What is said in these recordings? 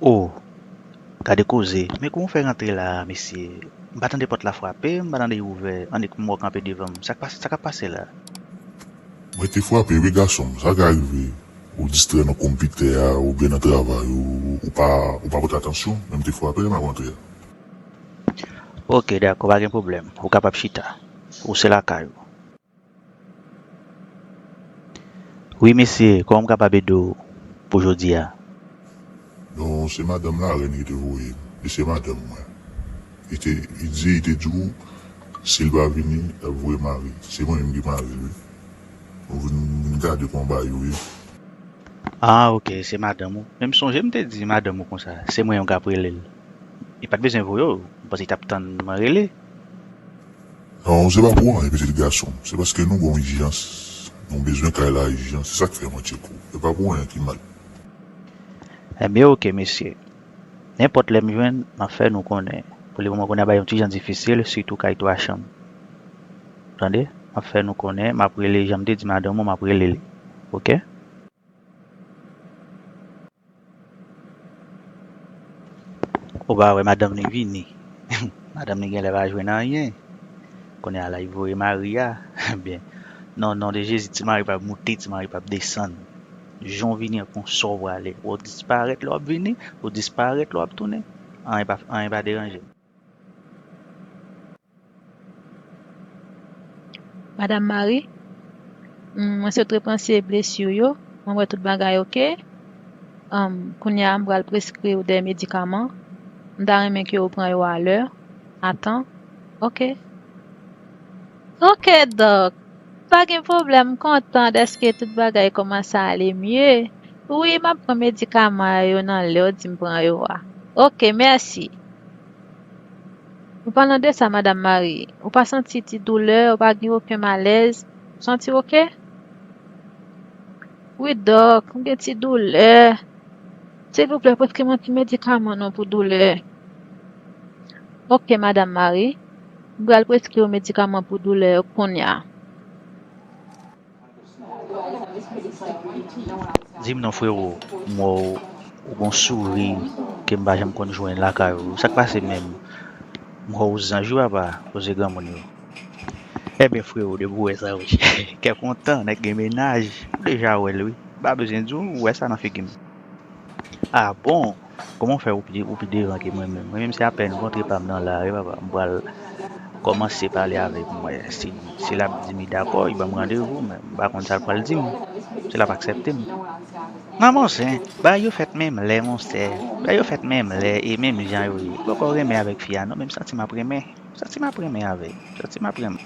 Oh gade koze men kouman ou fè rantre la a mesye m pa tande pòt la frape m pa tande y ouvè annik m wè w kanpe devan m sak pase sakap pase la. Mwen te frape wi gason m sa ka rive ou distrè nan konpitè a oubyen nan travay ou ou pa ou pa pote atansyon men m te frape lè m ap rantre a. Ok dakò pa gen pwoblèm ou kapab chita ou se lakay ou. Wi mesye koman m kapab ede w pou jodi a. Non se madanm la rèn ki te voye m li se madanm mwen li te li di li te di w sil pa vini lap voye mari se mwen menm ki maril wi nou vin nou vin gade kòman bagay yo ye. Ah ok se madanm ou men m sonje m te di madanm ou konsa se mwen menm kap rele l li pat bezwen voye w ou panse li tap tann mwen rele. Non se pa pou anyen pitit gason m se paske nou gon ijans nou bezwen kay la ijan se sak fè mwen tcheko e pa pou anyen ki mal. Ebyen ok mesye nenpòt lèm jwenn map fè nou konnen pou le moman kounye a bagay yo ti jan difisil sitou kay 3 chanm tande map fè nou konnen map rele janm te di madanm ou map relel ok. Ou pa wè madanm li vini. Madanm li genlè pa jwenn anyen. Kounye a la li voye mari a. Ebyen, nan non de Jezi ti mari pap moute, ti mari pap desann. Jan w vini an konsa w prale. Wè w disparèt lè w ap vini, ou disparèt lè w ap tounen. Anyen pa deranje m. Madam Marie, Humm mwen sot repanse blesi w yo, mwen wè tout bagay ok. Humm kounye a m pral preskri w 2 medikaman. M ta renmen ke w pran yo a lè, a tan. Ok. Ok dòk pa gen pwoblèm m kontan dèske tout bagay kòmanse ale mye wi map pran medikaman yo nan lèw dim pran yo a ok mèsi. An palan de sa madam Marie ou pa santi ti doulè ou pa gen oken malèz ou santiw ok. Wi dòk m gen ti doulè silvouplè preskri mwen ti medikaman non pou doulè ok madam Marie. M pral preskri w medikaman pou doulè yo kounya. Dim non frero m wè w ou gon souri kem pa janm konn jwenn lakay ou sak pase menm m wè w zanj wi papa koze granmoun yo. Enben frero depi w wè sa wi kè kontan nèg gen mennaj ou deja wè l wi m pa bezwen di w ou wè sa nan figi m. Ah bon! Kòman w fè ou pi ou pi devan ke mwen menm? Mwen menm se apèn kontre pa m nan lari papa m pral kòmanse pale avèk mwen. Si si l ap di m li dakò, li ban m randevou men m pa konn sa l pral di m. Si l ap aksèpte m. Nan bon sen, bagay yo fèt menm lè monsè. Bagay yo fèt menm lè e menm jan yo ye. M poko renmen avèk fi a non men m santi m ap renmen. M santi m ap renmen avè l. M santi m ap renmen.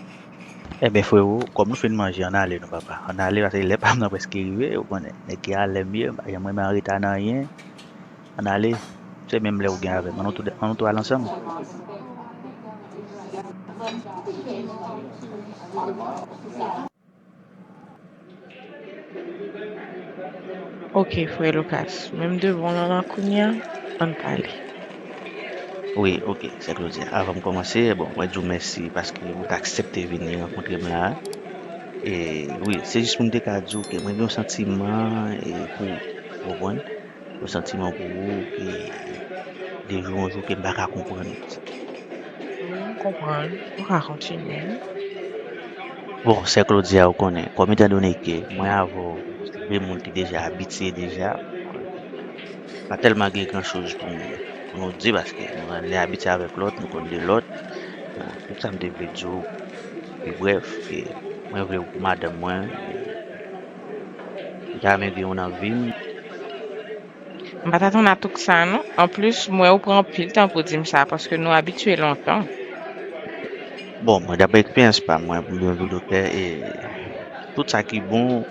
Enben frero kòm nou fin manje ann ale non papa ann ale paske lè pam nan prèske rive ou konnen nèg ki a lèm ye m pa janm renmen anreta nan anyen ann ale se menm lè ou gen avèm an nou tou an nou tou al ansanm. Ok frè Lucas, men m devan lan lan kounya, ann pale. Wi ok, sè Claudia, avan m kòmanse, bon, mwen di w mèsi paske ou t aksepte vini rankontre m la a. E, wi, se jis pou m te ka di w ke mwen gen yon santiman e pou ou, ou konprann? Yon santiman pou ou ke de jou an jou ke m pa ka konprann. Wi, m konprann. Ou ka kontinye. Bon, sè Claudia, ou konnen, kòm etan done ke mwen avè w se de moun ki deja abitye deja, pa tèlman gen gran choz pou nou di paske nou ann lè abitye avèk lòt, nou konn de lòt. Donk, tout sa m te vle di w, pi brèf, ke mwen vle ou pou madanm mwen. Ou ta renmen gen yon nan vim. M pat atann a tout sa non. Anplis m wè ou pran anpil tan pou dim sa paske nou abitye lontan. Bon mwen daprè eksperyans pa mwen pou m vin yon doktè e tout sa ki bon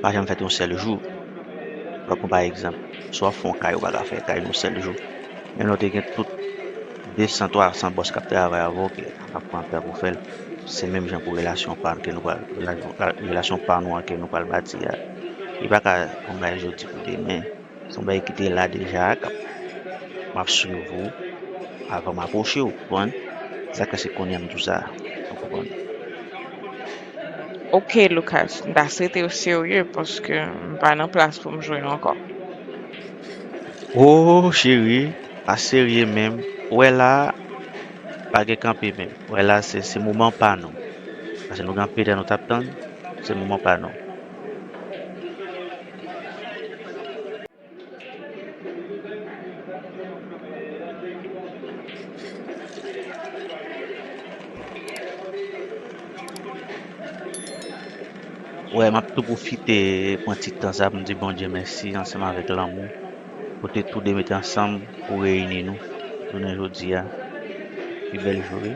pa janm fèt yon sèl jou. Mwen pran pa egzanp si w ap fè yon kay ou pa ka fè kay yon sèl jou. Menm lè w te gen tout 200, 300 bòs k ap travay avè w. Ap pran tan pou fèl. Se menm jan pou relasyon pa ke nou pral relasyon pa nou an ke nou pral bati a. Li pa ka yon bagay jodi pou demen. Se yon bagay ki te la deja kap map swiv ou avan m apwoche w konprann. Sa ka se kounya m di w sa ou konprann. Ok Lucas, m ta swete w serye paske m pa nan plas pou m jwe ankò. Ohh chérie, pa serye menm, wè la. Pa gen kanpe menm. Wè la se se moman pa nou. Pase nou gen anpil tan nou tap tann. Se moman pa nou. Wè map tou pwofite pran ti tan sa poum di Bondye mèsi ansanm avèk lanmou. Kote tou 2 mete ansanm pou reyini nou jounen jodi a. Pi bèl jou wi.